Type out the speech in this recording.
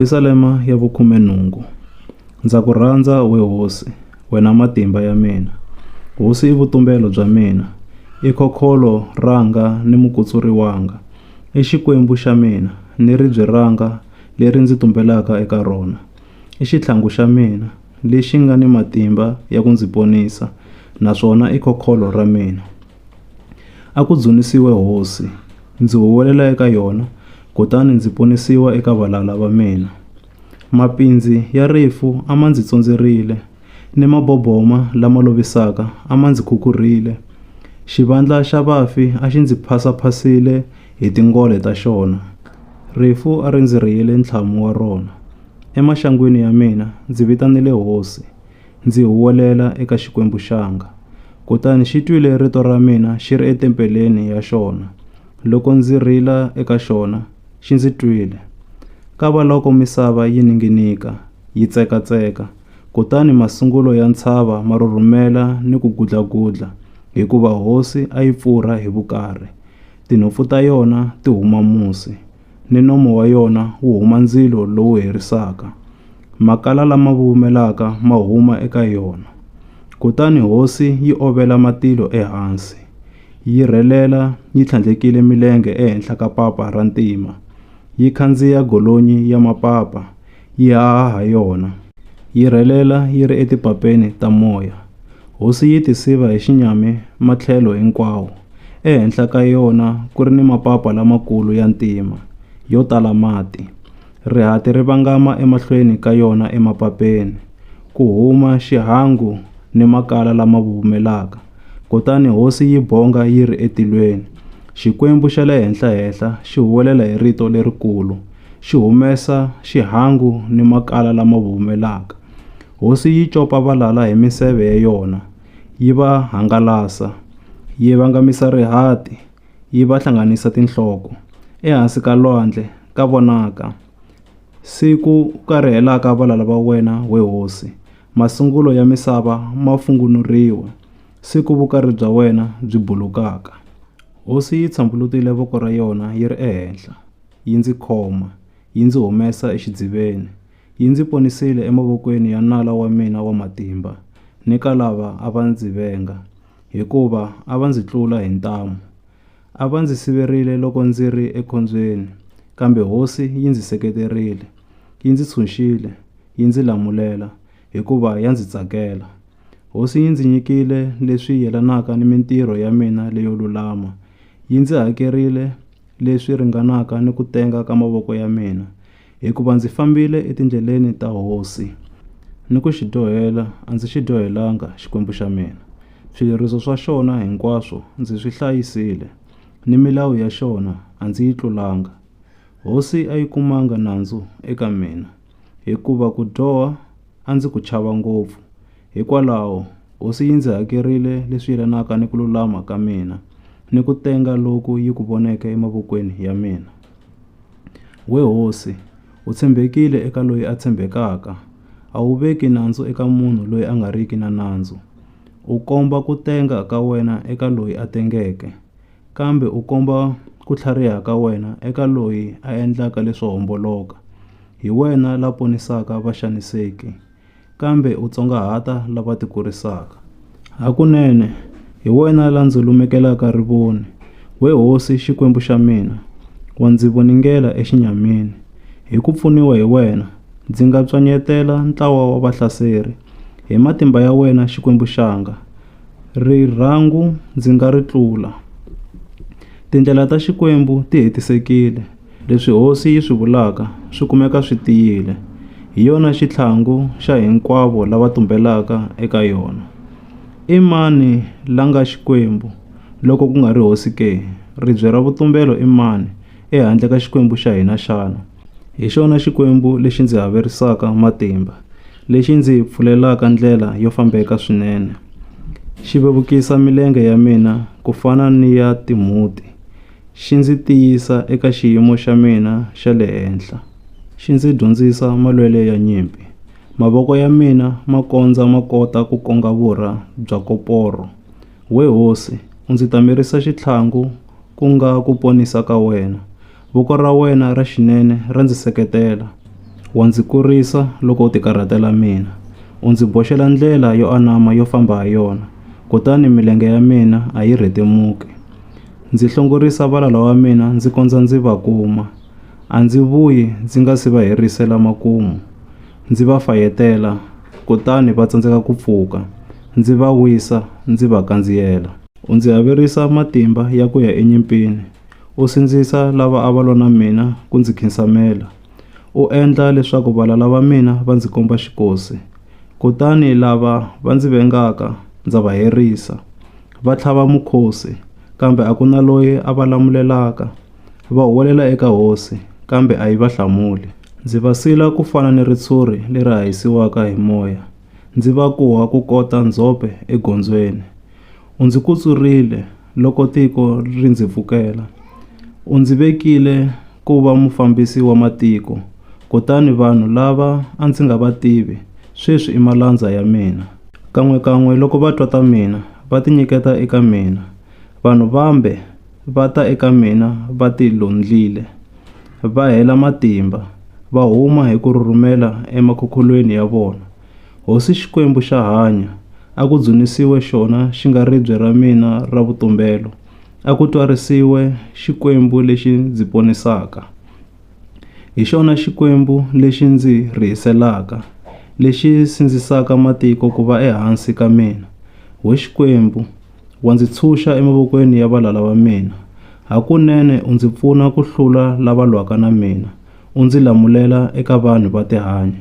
Yerusalema ya vukhume-nhungu. Ndza ku rhandza, we hosi, wena matimba ya mina. Hosi i vutumbelo bya mina, i khokholo ranga ni mukutsuri wanga, i xikwembu xa mina ni ribye ranga leri ndzi tumbelaka eka rona, i xitlhangu xa mina lexi nga ni matimba ya ku ndzi ponisa naswona i khokholo ra mina. A ku dzunisiwe hosi, ndzi huwelela eka yona, kutani ndzi ponisiwa eka valala va mina. Mapindzi ya rifu a ma ndzi tsondzerile, ni maboboma lama lovisaka a ma ndzi khukhurhile. Xivandla xa vafi a xi ndzi phasa-phasile hi tingole ta xona. Rifu a ri ndzi rhiyele ntlhamu wa rona. Emaxangwini ya mina ndzi vitanile Hosi, ndzi huwelela eka Xikwembu xanga. Kutani xi twile rito ra mina xi ri etempeleni ya xona. Loko ndzi rila eka xona, xi ndzi twile. Kavaloko misava yi ninginika, yi tsekatseka, kutani masungulo ya ntshava ma rhurhumela ni ku gudlagudla, hikuva hosi a yi pfurha hi vukarhi, tinhompfu ta yona ti huma musi. ni nomo wa yona wu huma ndzilo lowu herisaka. Makala lama vuvumelaka ma huma eka yona. Kutani hosi yi ovela matilo ehansi, yi rhelela yi tlhandlekile milenge ehenhla ka papa ra ntima, yi khandziya golonyi ya mapapa, yi haha ha yona, yi rhelela yi ri etipapeni ta moya. Hosi yi tisiva hi xinyami matlhelo hinkwawo, ehenhla ka yona ku ri ni mapapa lamakulu ya ntima, yo tala mati. Rihati ri vangama emahlweni ka yona emapapeni, ku huma xihangu ni makala lama vuvumelaka, kutani hosi yi bonga yi ri etilweni. Xikwembu xa le henhla-henhla xi huwelela hi rito lerikulu, xi humesa xihangu ni makala lama vuvumelaka. Hosi yi copa valala hi miseve ya yona, yi va hangalasa, yi vangamisa rihati, yi va hlanganisa tinhloko. Ehansi ka lwandle ka vonaka siku u karhelaka valala va wena, we hosi, masungulo ya misava ma fungunuriwa, siku vukari bya wena byi bulukaka. Hosi yi tshambulutile voko ra yona yi ri ehenhla. yi ndzi khoma, yi ndzi humesa exidziveni. Yi ndzi ponisile emavokweni ya nala wa mina wa matimba ni ka lava a va ndzi venga, hikuva a va ndzi tlula hi ntamu. A va ndzi siverile loko ndzi ri ekhombyeni, kambe Hosi yi ndzi seketerile. Yi ndzi tshunxile, yi ndzi lamulela, hikuva ya ndzi tsakela. Hosi yi ndzi nyikile leswi yelanaka ni mintirho ya mina leyo lulama, yi ndzi hakerile leswi ringanaka ni ku tenga ka mavoko ya mina, hikuva ndzi fambile etindleleni ta hosi, ni ku xi dyohela a ndzi xi dyohelanga Xikwembu xa mina. Swileriso swa xona hinkwaswo ndzi swi hlayisile, ni milawu ya xona a ndzi yi tlulanga. Hosi a yi kumanga nandzu eka mina. hikuva ku dyoha a ndzi ku chava ngopfu. Hikwalaho, Hosi yi ndzi hakerile leswi yelanaka ni ku lulama ka mina ni ku tenga loku yi ku voneke emavokweni ya mina. We Hosi, u tshembekile eka loyi a tshembekaka, a wu veki nandzu eka munhu loyi a nga riki na nandzu. U komba ku tenga ka wena eka loyi a tengeke, Kambe u komba ku tlhariha ka wena eka loyi a endlaka leswo homboloka. Hi wena la ponisaka vaxaniseki, kambe u tsongahata lava tikurisaka. Hakunene, hi wena la ndzi lumekelaka rivoni, we Hosi Xikwembu xa mina, wa ndzi voningela exinyamini. Hi ku pfuniwa hi wena, ndzi nga pswanyetela ntlawa wa vahlaseri, hi matimba ya wena Xikwembu xanga, Rirhangu ndzi nga ri tlula. Tindlela ta Xikwembu ti hetisekile, leswi Hosi yi swi vulaka swi kumeka swi tiyile. Hi yona xitlhangu xa hinkwavo lava tumbelaka eka yona. I mani la nga Xikwembu loko ku nga ri Hosi ke? Ribye ra vutumbelo i mani ehandle ka Xikwembu xa hina xana? Hi xona Xikwembu lexi ndzi haverisaka matimba, lexi ndzi pfulelaka ndlela yo fambeka swinene, xi vevukisa milenge ya mina ku fana ni ya timhuti, xi ndzi tiyisa eka xiyimo xa mina xa le henhla, xi ndzi dyondzisa malwele ya nyimpi. Mavoko ya mina ma kondza ma kota ku konga vurha bya koporo. We hosi, u ndzi tamerisa xitlhangu, ku nga ku ponisa ka wena. Voko ra wena ra xinene ra ndzi seketela, wa ndzi kurisa loko u tikarhatela mina. U ndzi boxela ndlela yo anama yo famba ha yona, kutani milenge ya mina a yi rhetemuki. Ndzi hlongorisa valala wa mina ndzi kondza ndzi va kuma, a ndzi vuyi ndzi nga si va herisela makumu. Ndzi va fayetela, kutani va tsandzeka ku pfuka, ndzi va wisa ndzi va kandziyela. U ndzi haverisa matimba ya ku ya enyimpini, U sindzisa lava a va lwa na mina ku ndzi khinsamela, u endla leswaku valala va mina va ndzi komba xikosi. Kutani lava va ndzi vengaka ndza va herisa, va tlhava mukhosi, kambe a ku na loyi a va lamulelaka. Va huwelela eka hosi, kambe a yi va hlamuli. Ndzi va sila ku fana ni ritshuri leri hahisiwaka hi moya, ndzi va kuha ku kota ndzhope egondzweni. U ndzi kutsurile, Loko tiko ri ndzi pfukela, u ndzi vekile ku va mufambisi wa matiko, kutani vanhu lava a ndzi nga va tivi sweswi i malandza ya mina. Kan'we-kan'we loko va twa ta mina, va tinyiketa eka mina, vanhu vambe va ta eka mina va tilondlile, va hela matimba, va huma hi ku rhurhumela emakhukhulweni ya vona, Hosi Xikwembu xa hanya, a ku dzunisiwe xona xi nga ribye ra mina ra vutumbelo, a ku twarisiwe Xikwembu lexi ndzi ponisaka. Hi xona Xikwembu lexi ndzi rihiselaka, lexi sindzisaka matiko ku va ehansi ka mina. We Xikwembu, wa ndzi tshunxa emavokweni ya valala va mina, hakunene u ndzi pfuna ku hlula lava lwaka na mina, u ndzi lamulela eka vanhu va tihanyi.